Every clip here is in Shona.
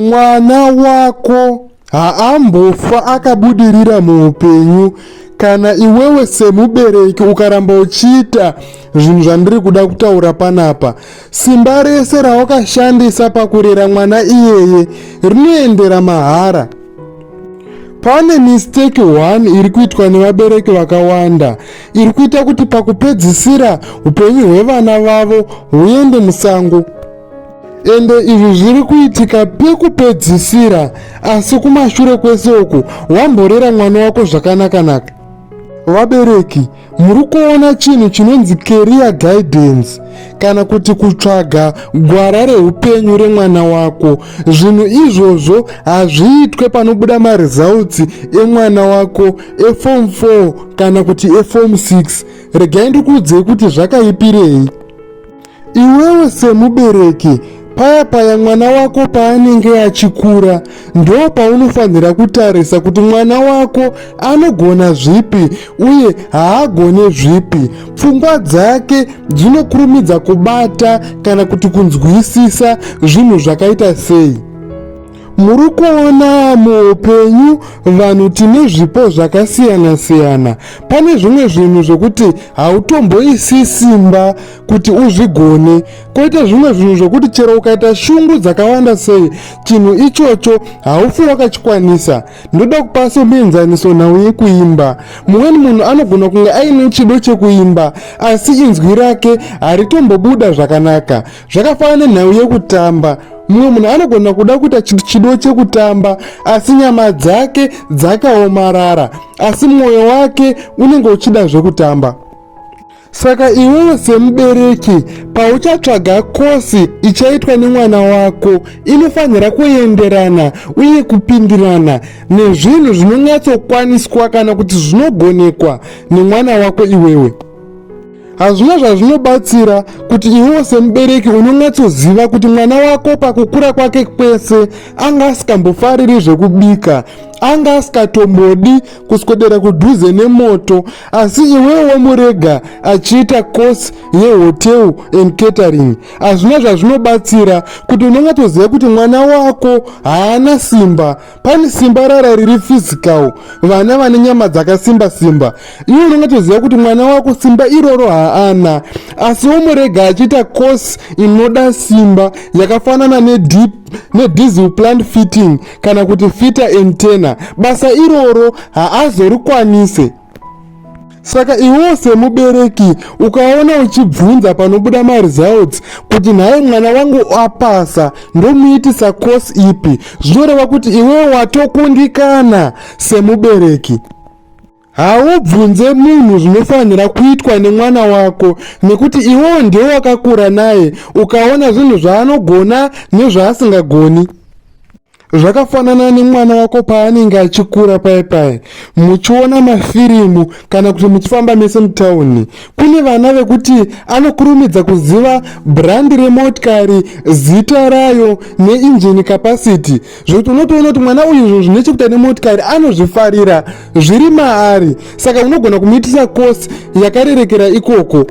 Mwana wako haambofa akabudirira muupenyu kana iwewe semubereki ukaramba uchiita zvinhu zvandiri kuda kutaura panapa simba rese rawakashandisa pakurera mwana iyeye rinoendera mahara pane mistake one iri kuitwa nevabereki vakawanda iri kuita kuti pakupedzisira upenyu hwevana vavo huende musango ende izvi zviri kuitika pekupedzisira asi kumashure kwese uku wamborera mwana wako zvakanakanaka vabereki muri kuona chinhu chinonzi career guidance kana kuti kutsvaga gwara reupenyu remwana wako zvinhu izvozvo hazviitwe panobuda maresults emwana wako efom 4 kana kuti efom 6 regai ndikuudzei kuti zvakaipirei Iwewe semubereki, paya paya mwana wako paanenge achikura, ndo paunofanhira kutarisa kuti mwana wako anogona zvipi uye haagone zvipi. Pfungwa dzake dzinokurumidza kubata kana kuti kunzwisisa zvinhu zvakaita sei. Muri kuona muupenyu vanhu tine zvipo zvakasiyana siyana. Pane zvimwe zvinhu zvokuti hautomboisi simba kuti uzvigone. Koita zvimwe zvinhu zvokuti chero ukaita shungu dzakawanda sei, chinhu ichocho haufi wakachikwanisa. Ndoda kupa somuenzaniso nhau yekuimba. Mumweni munhu anogona kunge aine chido chekuimba, asi inzwi rake haritombobuda zvakanaka. zvakafanana nenhau yekutamba mumwe munhu anogona kuda kuita chinhu chido chekutamba asi nyama dzake dzakaomarara asi mwoyo wake unenge uchida zvekutamba saka iwewe semubereki pauchatsvaga kosi ichaitwa nemwana wako inofanira kuenderana uye kupindirana nezvinhu zvinonyatsokwaniswa kana kuti zvinogonekwa nemwana wako iwewe hazvina zvazvinobatsira kuti iwewo semubereki unonyatsoziva kuti mwana wako pakukura kwake kwese anga asikambofariri zvekubika anga asikatombodi kuswedera kudhuze nemoto asi iwewo wamurega achiita course yehotel and catering hazvina zvazvinobatsira kuti unonyatsoziva kuti mwana wako haana simba pane simba rara riri physical vana vane nyama dzakasimba simba iwe unongatoziva kuti mwana wako simba iroro haana asi womurega achiita course inoda simba yakafanana nedip nedisel plant fitting kana kuti fita entena basa iroro haazorikwanise saka iwewo semubereki ukaona uchibvunza panobuda maresults kuti nhaye mwana wangu apasa ndomuitisa course ipi zvinoreva kuti iwewo watokundikana semubereki haubvunze munhu zvinofanira kuitwa nemwana wako nekuti iwewo ndiwe wakakura naye ukaona zvinhu zvaanogona nezvaasingagoni zvakafanana nemwana wako paanenge achikura paye paye muchiona mafirimu kana kuti muchifamba mese mutauni kune vana vekuti anokurumidza kuziva brandi remotikari zita rayo neinjini capacity zvekuti unotoona kuti mwana uyu izvo zvine chekuita nemotikari anozvifarira zviri maari saka unogona kumuitisa kosi yakarerekera ikoko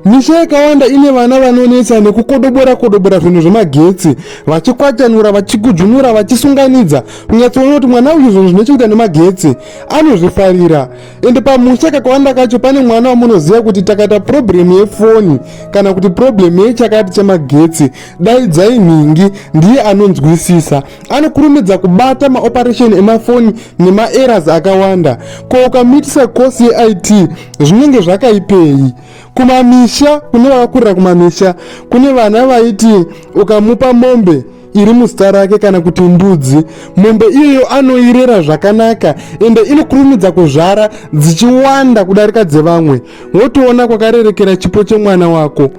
Misha yakawanda ine vana vanonetsa nekukodobora kodobora zvinhu zvemagetsi vachikwatanura vachikudzvunura vachisunganidza kunyatsoona kuti mwana uyu zvinhu zvine chekuita nemagetsi anozvifarira ende pamusha kakawanda kacho pane mwana wamunoziva kuti takaita purobhuremu yefoni kana kuti purobhuremu yechakati chemagetsi daidzai nhingi ndiye anonzwisisa anokurumidza kubata maoperesheni emafoni nemaeras akawanda ko ukamitisa course yeit zvinenge zvakaipei kumamisha kune vakakurira kumamisha kune vana vaiti ukamupa mombe iri muzita rake kana kuti mbudzi mombe iyoyo anoirera zvakanaka ende inokurumidza kuzvara dzichiwanda kudarika dzevamwe wotoona kwakarerekera chipo chemwana wako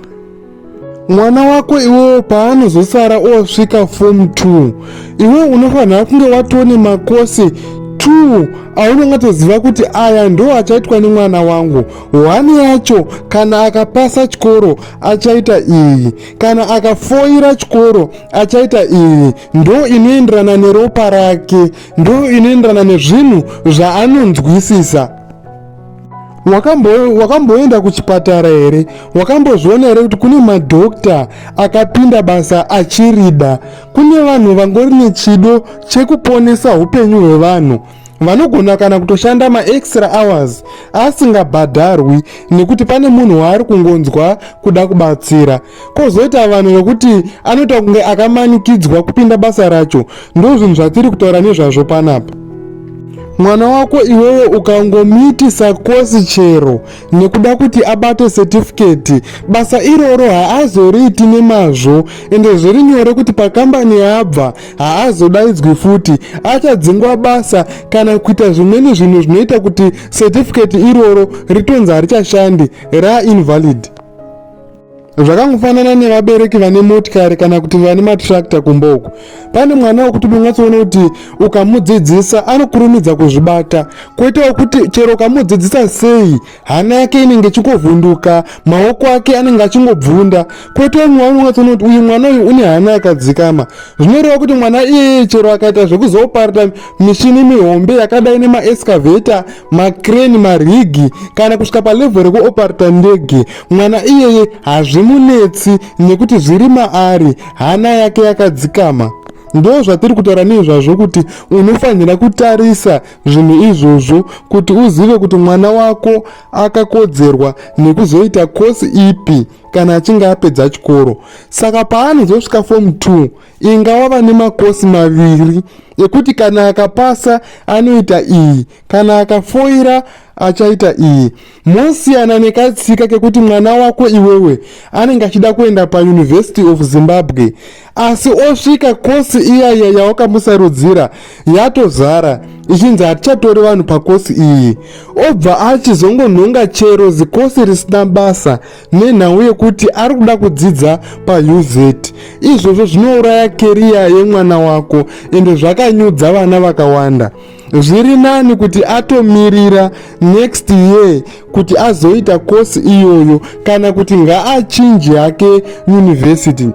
mwana wako iwewo paanozosara osvika form 2 iwe unofanira kunge watone makosi 2 aunenge toziva kuti aya ndo achaitwa nemwana wangu hwani yacho kana akapasa chikoro achaita iyi kana akafoira chikoro achaita iyi ndo inoenderana neropa rake ndo inoenderana nezvinhu zvaanonzwisisa wakamboenda wakambo kuchipatara here wakambozviona here kuti kune madhokta akapinda basa achirida kune vanhu vangori nechido chekuponesa upenyu hwevanhu vanogona kana kutoshanda maextra hours asingabhadharwi nekuti pane munhu waari kungonzwa kuda kubatsira kozoita vanhu vekuti anoita kunge akamanikidzwa kupinda basa racho ndozvinhu zvatiri kutaura nezvazvo panapa mwana wako iwewe ukangomuitisa kosi chero nekuda kuti abate setifiketi basa iroro haazoriiti nemazvo ende zviri nyore kuti pakambani yaabva haazodaidzwi futi achadzingwa basa kana kuita zvimweni zvinhu zvinoita kuti setifiketi iroro ritonzi harichashandi rainvalid zvakangofanana nevabereki vane motikari kana kuti vane matrakta kumba uku pane mwana wekuti mungatsoona kuti ukamudzidzisa anokurumidza kuzvibata kwete wekuti chero ukamudzidzisa sei hana yake inenge ichingovhunduka maoko ake anenge achingobvunda kwete umwe wani ungatsoona kuti uyu mwana uyu une hana yakadzikama zvinoreva kuti mwana iyeye chero akaita zvekuzoparita mishini mihombe yakadai nemaescaveta makreni marigi kana kusvika palevho rekuoparita ndege mwana iyeye hazvimunetsi nekuti zviri maari hana yake yakadzikama ndo zvatiri kutaura neizvazvo kuti unofanira kutarisa zvinhu izvozvo kuti uzive kuti mwana wako akakodzerwa nekuzoita kosi ipi kana achinge apedza chikoro saka paanozosvika fomu 2 inga wava nemakosi maviri ekuti kana akapasa anoita iyi kana akafoira achaita iyi Mosiyana nekatsika kekuti mwana wako iwewe anenge achida kuenda paUniversity of Zimbabwe asi osvika kosi iyaiya yawakamusarudzira yatozara ichinzi hatichatori vanhu pakosi iyi obva achizongonhonga chero zikosi risina basa nenhau yekuti ari kuda kudzidza pauz izvozvo zvinouraya keriya yemwana wako ende zvakanyudza vana vakawanda zviri nani kuti atomirira next year kuti azoita kosi iyoyo kana kuti ngaachinji hake yunivhesiti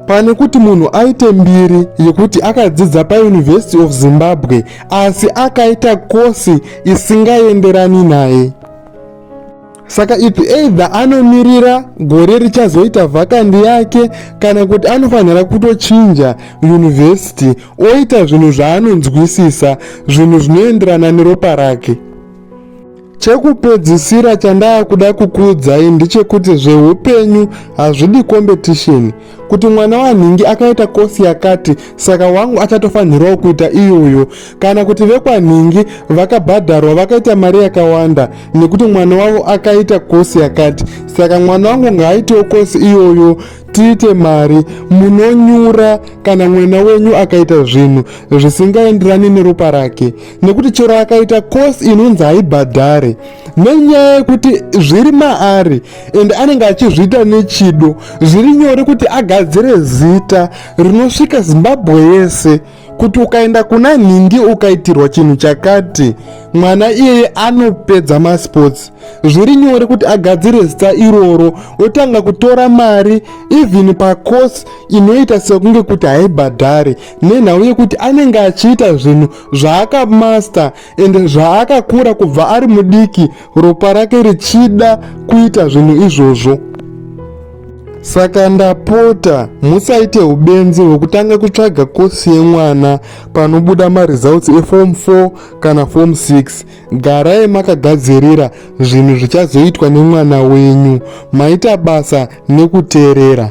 pane kuti munhu aite mbiri yekuti akadzidza pauniversity of zimbabwe asi akaita kosi isingaenderani naye saka if either anomirira gore richazoita vhakandi yake kana kuti anofanira kutochinja yunivhesiti oita zvinhu zvaanonzwisisa zvinhu zvinoenderana neropa rake chekupedzisira chandaakuda kukuudzai ndechekuti zveupenyu hazvidi kombetisheni kuti mwana wanhingi akaita kosi yakati saka wangu achatofanhirawo kuita iyoyo kana kuti vekwanhingi vakabhadharwa vakaita mari yakawanda nekuti mwana wavo akaita kosi yakati saka mwana wangu ngaaitewo kosi iyoyo tiite mari munonyura kana mwana wenyu akaita zvinhu zvisingaenderani neropa rake nekuti chero akaita kosi inonzi haibhadhare nenyaya yekuti zviri maari and anenge achizviita nechido zviri nyore kuti agadzire zita rinosvika zimbabwe yese kuti ukaenda kuna nhindi ukaitirwa chinhu chakati mwana iyeye anopedza masports zviri nyore kuti agadzire zita iroro otanga kutora mari even pacourse inoita sekunge kuti haibhadhare nenhau yekuti anenge achiita zvinhu zvaakamaster and zvaakakura kubva ari mudiki ropa rake richida kuita zvinhu izvozvo saka ndapota musaite ubenzi hwekutanga kutsvaga kosi yemwana panobuda maresults eform 4 kana form 6 garai makagadzirira zvinhu zvichazoitwa nemwana wenyu maita basa nekuteerera